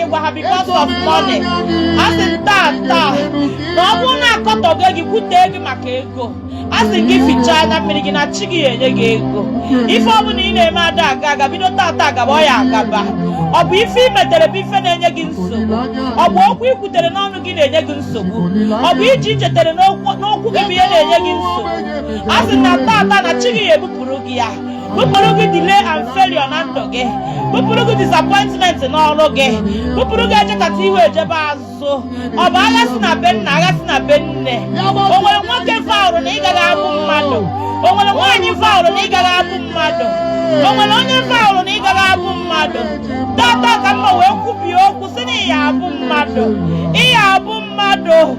ịgwa ha because of money a sị taa taa na ọ bụrụ na a kọtọgo gị kwute gị maka ego a sị gị fichaa anya mmiri gị na chi gị ya enye gị ego ife ọ bụla ị na-eme ada aga aga bido tata agaba ọ ya agaba ọ bụ ife ị metere bụ ife na-enye gị nsogbu ọ bụ okwu ị kwutere n'ọnụ gị na-enye gị nsogbu ọ bụ ije i jetere n'ụkwụ gị bụ ihe na-enye gị nsogbu a sị na tata na chi gị ya ebupụrụ gị ya bupụrụ gị delay and failure na ndụ gị bupụrụ gị disappointment n'ọrụ gị bupụrụ gị ejekata ihu ejebe azụ ọ bụ agha si na be nna agha si na be nne o nwere nwoke vowrụ na ị gaghị abụ mmadụ o nwere nwaanyị vowrụ na ị gaghị abụ mmadụ o nwere onye vowrụ na ị gaghị abụ mmadụ tata ka mma wee kwubie okwu sị na ị ya abụ mmadụ ị ya abụ mmadụ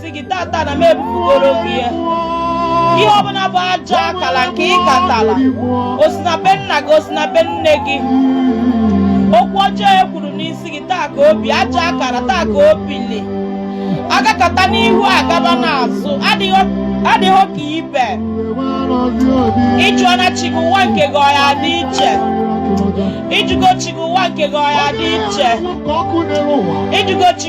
si gị tata na m ebupụgoro gị ya ihe ọbụla bụ ajọ akala nke ị katala o si na be nna gị o si na be nne gị okwu ọjọọ e kwuru n'isi gị taa ka o bi ajọ akara taa ka o bili agakata n'ihu agaba n'azụ adịghị ka ibe ị jụọna chi gị ụwa nke gị ọ ya dị iche ị jụgo chi gị ụwa nke gị ọ ya dị iche ị jụgo chi